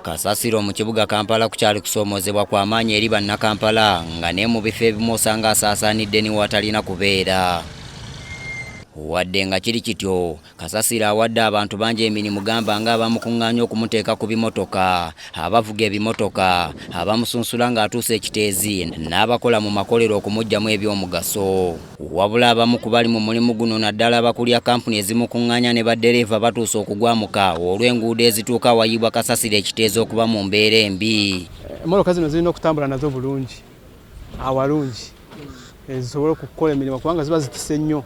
Kasasiro mu kibuga Kampala kukyali kusoomoozebwa kwa maanyi eri Bannakampala nga ne mu bifo ebimu osanga asaasaanidde ni watalina kubeera. Wadde nga kiri kityo, Kasasiro awadde abantu bangi emirimu gamba nga abamukung'aanya okumuteeka ku bimotoka, abavuga ebimotoka, abamusunsula ng'atuuse ekiteezi n'abakola mu makolero okumuggyamu ebyomugaso. Wabula abamu ku bali mu mulimu guno naddala abakulira kkampuni ezimukung'anya ne baddereeva batuuse okugwamuka olw'enguudo ezituuka awayiibwa kasasiro ekiteeza okuba mu mbeera embi. Emmotoka zino zirina okutambula nazo bulungi awalungi eh, zisobole okukola emirimu kubanga ziba zitise nnyo.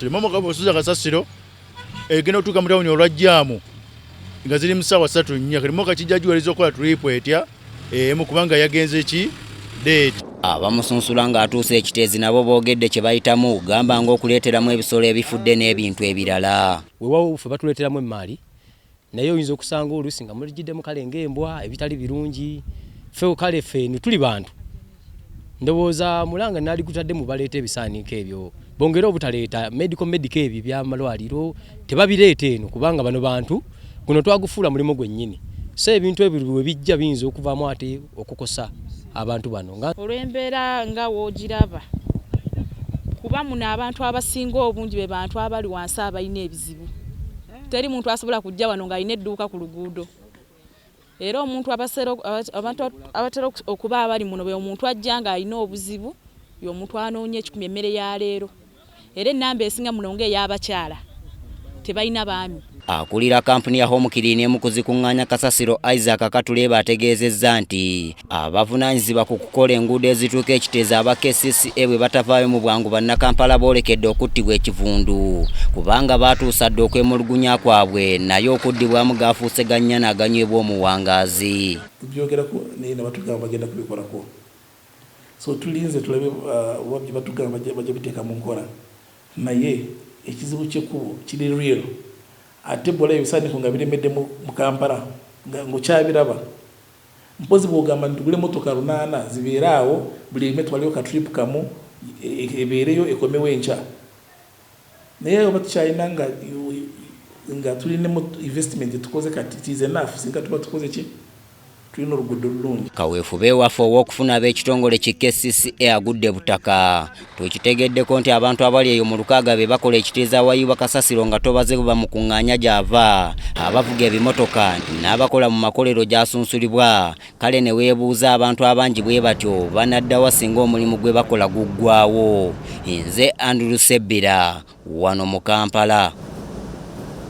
Emmotoka bw'osuza kasasiro egenda kutuuka mu tawuni olwa jjaamu nga ziri mu ssaawa ssatu nnya kati moka kijja giwaliriza okukola tuliipu etya emu eh, kubanga yagenze ki deeti abamusunsula ng'atuuse ekiteezi nabo boogedde kye bayitamu gamba ng'okuleeteramu ebisolo ebifudde n'ebintu ebirala wewawo ffe batuleeteramu emmaali naye oyinza okusanga oluusi nga muligiddemu kale ng'embwa ebitali birungi fe kale feenu tuli bantu ndowooza mulanga nali gutadde mu baleeta ebisaaniiko ebyo bongere obutaleeta medical medical ebyo byamalwaliro tebabireeta eno kubanga bano bantu guno twagufuula mulimu gwennyini so ebintu ebyo bwe bijja biyinza okuvaamu ate okukosa abantu bano olw'embeera nga woogiraba kuba muno abantu abasinga obungi be bantu abali wansi abalina ebizibu teri muntu asobola kujja wano ng'alina edduuka ku luguudo era omuntu abantu abatera okuba abali muno bwe omuntu ajja ng'alina obuzibu y'omuntu anoonya ekikumi emmere ya leero era ennamba esinga muno ng'ey'abakyala tebalina baami Akulira kampuni ya Home Clean emu ku zikuŋŋaanya kasasiro Isaac Katuleeba ategeezezza nti Abavunaanyizibwa ku kukola enguudo ezituuka e Kiteezi aba kcca bwe batavaayo mu bwangu Bannakampala boolekedde okuttibwa ekivundu kubanga baatuusa dda okwemulugunya kwabwe naye okuddibwamu gaafuuse ga nnyana aganywebwa omuwangaazi. Tubyogerako naye ne batugamba bagenda kubikolako so tulinze tulabe oba bye batugamba bajja biteeka mu nkola naye ekizibu ky'ekkubo kiri real ate bw'olaba ebisaaniiko nga biremedde mu Kampala ng'okyabiraba Mpozi bwogamba nti tugule motoka lunana zibeere awo buli emu etwaleyo ka trip kamu ebeereyo ekomewo enkya naye oba tukyalina nga nga tuli ne investment gyetukoze kati it is enough singa tuba tukoze ki tulina oluguddo olulungi. Kaweefube waffe ow'okufuna ab'ekitongole ki kcca agudde butaka Twekitegeddeko nti abantu abali eyo mu lukaaga be bakola ekiteeza awayiibwa kasasiro nga tobaze bwe bamukung'aanya gy'ava, abavuga ebimotoka n'abakola mu makolero gy'asunsulibwa kale ne weebuuza abantu abangi bwe batyo banadda wa singa omulimu gwe bakola guggwaawo. Nze Andrew Sebbira wano mu Kampala.